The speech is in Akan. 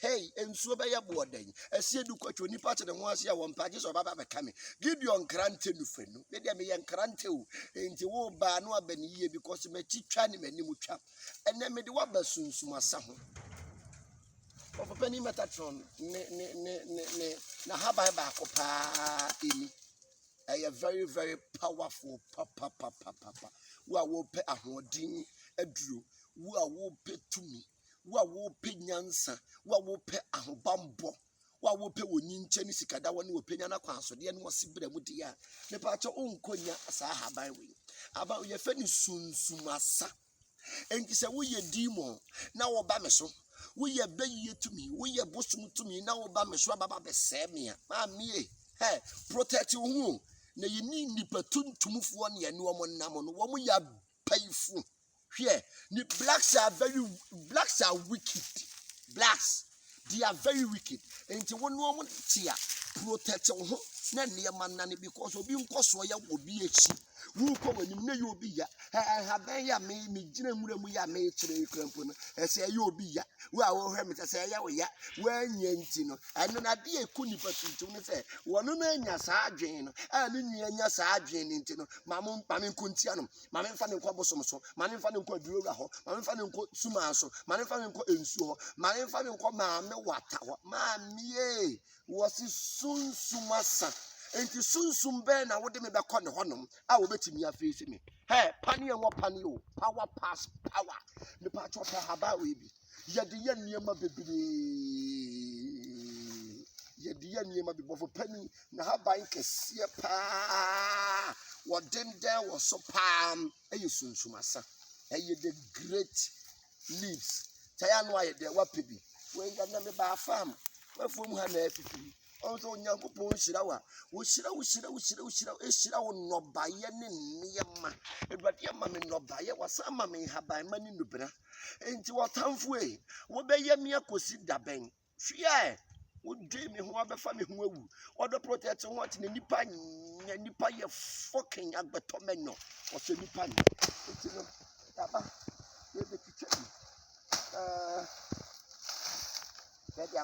Hey, nsuo bɛyɛ boɔ dɛn? Ɛseɛ du kɔtwe onipa te ne ho ase a wɔmpɛ agye sɛ ɔbaba bɛka me. Gideon nkrante no fɛ no. Me deɛ meyɛ nkrante o. Enti wo baa no aba ne yie because m'akyi twa ne m'anim twa. Ɛnɛ mede waba sunsum asa ho. Ɔpɔpani Metatron ne ne ne ne ne n'ahaban baako paa ɛni. Ɛyɛ very very powerful papapapapa. Wo a wopɛ ahoɔden aduro, wo a wopɛ tumi. Wo a wopɛ nyansa, wo a wopɛ ahobammɔ, wo a wopɛ wɔ nyinkyɛ ne sikadawa ne ɔpɛnya no akwansodeɛ ne ɔsebra mu deɛ a, mepa kyɛ wonkɔ nya saa ahaban wei. Ahaban wei yɛfɛ no sunsum asa. Enti sɛ woyɛ demon na woba me so, woyɛ bɛyie tumi, woyɛ bosom tumi na woba me so ababa bɛsɛe me a, maamie, hɛ, protect wo ho na yɛni nnipa tuntumfoɔ ne ɛne wɔn nam no, wɔn yɛ mpanyinfo hwɛ ne blacks are very blacks are wicked blacks they are very wicked nti wɔn ne wɔn te a protect wɔn ho na nneɛma nane because obi nkɔ so yɛ wɔ obi akyi wokɔ wɔn anim na yɛ obi ya ɛhabɛn yɛ me me gyina nwura mu yɛ me kyerɛ ekura mpo no ɛsɛ ɛyɛ obi ya wo a wɔhwɛ me sɛ sɛ ɛyɛ wo ya wɔanya nti no ɛno na adeɛ ɛkɔ nipa tuntum no sɛ wɔn no anya saa adwene no a ne nua anya saa adwene no nti no ma mo ma me nkɔ ntia no ma me nfa no nkɔ abosom so ma me nfa no nkɔ aduroga hɔ ma me nfa no nkɔ sumaa so ma me nfa no nkɔ nsuo hɔ ma me nfa no nkɔ maame wata hɔ maame yee wɔsi sunsum asa nti sunsum bɛn na wode me bɛkɔ ne hɔnom a wɔbɛtumi afei si me hɛ paneɛ wɔ paneɛ o power pass power mepatwɔ pɛ haba wei bi yɛde yɛ nneɛma bebree yɛde yɛ nneɛma bi bɔfo panyin na haban kɛseɛ paa wɔdendɛn wɔ so paa ɛyɛ sunsumasan ɛyɛ the great leaves taya no ayɛ dɛ wapɛ bi wɔn nka na me baa farm wɔafuo mu ha na afifi wɔn sɛ onyankopɔn nhyira wa wohyira wohyira wohyira wohyira ehyira wo nnɔbaeɛ ne nneɛma awurade ama me nnɔbaeɛ wasan ama me nhaban ma ne nnubena. Enti ɔtamfo ei, wobɛyɛ me akosi da bɛn? Hwia ɛ, wodwen me ho abɛfa me ho awu. Ɔdɔ protect ho ɔte na nipa nyɛ nipa yɛ fucking agbɛtɔ mɛnyɔ. Ɔsɛ nipa nyɛ. Enti no, daba, yɛbɛtwitwa bi. Uh, eh, yɛde